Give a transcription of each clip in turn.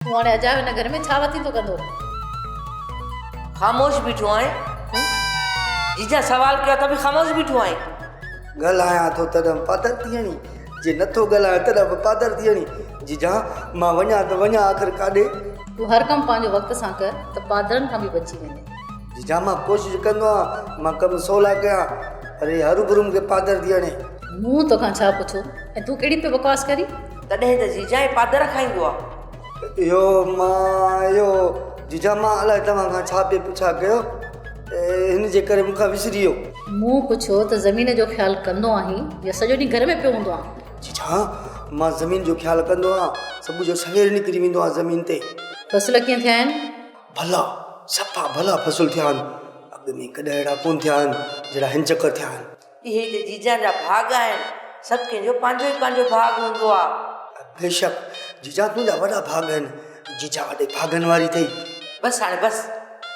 تون هاڻي اجايو هن گهر ۾ ڇا وتيندو ڪندو؟ خاموش بيٺو آهين؟ جيجا سوال ڪيو ته به خاموش بيٺو آهين؟ ڳالهايان ٿو تڏهن به پادر ٿيڻي، جي نٿو ڳالهايان تڏهن به پادر ٿيڻي، جيجا مان وڃان ته وڃان آخر ڪاڏي؟ تون هر ڪم پنهنجو وقت سان ڪر ته پادرن کان به بچي وڃين. جيجا مان ڪوشش ڪندو آهيان مان ڪم سولا ڪيان پر هي هروڀرو مون کي پادر ٿيڻي. مون توکان ڇا پڇو ۽ تون ڪهڙي پئي بڪواس ڪرين؟ تڏهن ته جيجا ئي پادر کائيندو آ. اهو مان اهو جيجا مان الائي توهان کان ڇا پئي پڇا ڪيو هن جي ڪري مون کان وسري ويو. مون پڇيو ته زمين جو خيال ڪندو آهين يا سڄو ڏينهن گهر ۾ پيو هوندو آهين. جيجا مان زمين جو خيال ڪندو آهيان صبح جو سوير نڪري ويندو آهيان زمين تي. فصل ڪيئن ٿيا آهن؟ ڀلا صفا ڀلا فصل ٿيا آهن اڳ ۾ ڪڏهن اهڙا ڪونه ٿيا آهن جهڙا هن چڪر ٿيا آهن. اهي ته جيجان جا ڀاڳ آهن. سڀ ڪنهن جو پنهنجو ئي پنهنجو ڀاڳ هوندو آ. بيشڪ جيجان تنهنجا وڏا ڀاڳ آهن. جيجان وڏي ڀاڳن واري اٿئي. بس هاڻي بس.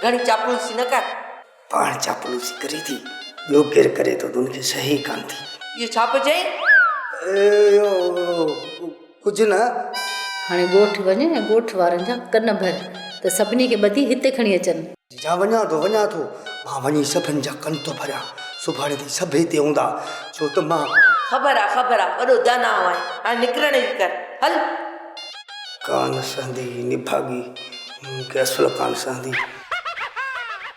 گهڻي چاپلوسي نه ڪر. پاڻ چاپلوسي ڪري ٿي. ٻيو ڪير ڪري ٿو تون کي شيء ئي ڪانه ٿي. اهو ڇا پيو چئين؟ اهو. ڪجهه نه. هاڻي ڳوٺ وڃ ۽ ڳوٺ وارن جا ڪن ڀر ته سڀني کي ٻڌي هتي کڻي اچن. جا وڃان ٿو وڃان ٿو. مان وڃي سڀن جا ڪن ٿو ڀريان. سڀاڻي تائين سڀ هتي هوندا ڇو ته مان. خبر آ خبر آ وڏو داناهو آهين هاڻي نڪرڻ جي ڪر هل. ڪانه سهندي نڀاڳي مون کي اصل ڪانه سهندي.